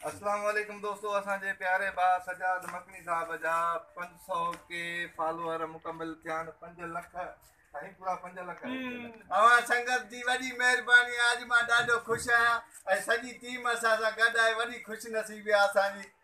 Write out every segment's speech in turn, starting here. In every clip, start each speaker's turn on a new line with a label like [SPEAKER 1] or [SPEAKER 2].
[SPEAKER 1] اسلام عليڪم دوستو اسان جي پياري با سجاد مڪني صاحب جا 500 ڪي فالوور مڪمل ٿيا آهن 5 لک سائين پورا 5 لک اوهان سنگت
[SPEAKER 2] جي وڏي مهرباني اڄ مان ڏاڍو خوش آهيان ۽ سڄي ٽيم اسان سان گڏ آهي وڏي خوش نصيبي اسان جي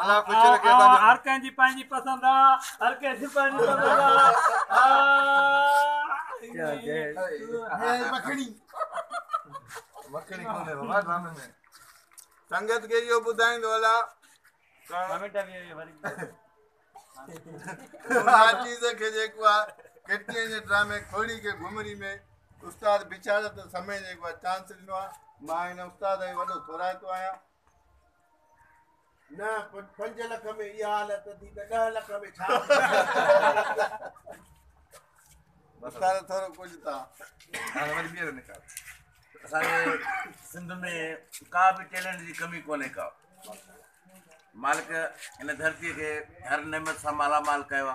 [SPEAKER 1] هر ڪنهن جي پنهنجي
[SPEAKER 3] پسند آ هر ڪنهن جي پنهنجي
[SPEAKER 1] پسند آ سنگت
[SPEAKER 2] کي اهو ٻڌائيندو هلان چيز کي جيڪو آ ڪٽني جي ڊرامي کوڙي کي گهمري ۾ استاد بيچاري ته سمي جيڪو آ چانس ڏنو آ مان هن استاد جو وڏو ٿورائتو آهيان
[SPEAKER 4] نه پنج لک ۾ اها حالت ٿي ته ڏهه لک ۾ ڇا
[SPEAKER 2] ڏيکاريو ٿورو ڪجهه تا هاڻي وري
[SPEAKER 1] ٻيهر نڪال اسان جي
[SPEAKER 5] سنڌ ۾ ڪا به ٽيلنٽ جي ڪمي ڪونهي ڪا مالڪ هن ڌرتيء کي هر نعمت سان مالا مال ڪيو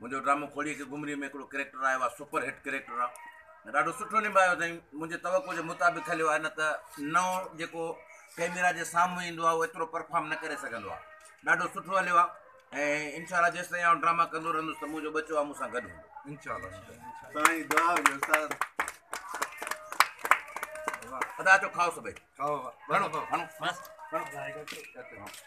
[SPEAKER 5] منهنجو ڊرامو کوڙيء کي گمري ۾ هڪڙو ڪريڪٽر آيو آهي سپر هٽ ڪريڪٽر آهي ڏاڍو سٺو نڀايو اٿائين منهنجي توقع جي مطابق هليو آهي نه ته نئون جيڪو ڪيميرا جي سامهون ايندو آهي اهو ايترو پرفارم نه ڪري سگهندو آهي ڏاڍو سٺو هليو آهي ۽ انشاء الله جيس تائين آئون ڊراما ڪندو رهندس ته منهنجو ٻچو آهي مون سان گڏ هوندو انشاء الله سائين
[SPEAKER 1] دعا
[SPEAKER 2] هجي
[SPEAKER 5] استاد ادا اچو کائو سڀئي کائو
[SPEAKER 1] گھڻو
[SPEAKER 5] کائو گھڻو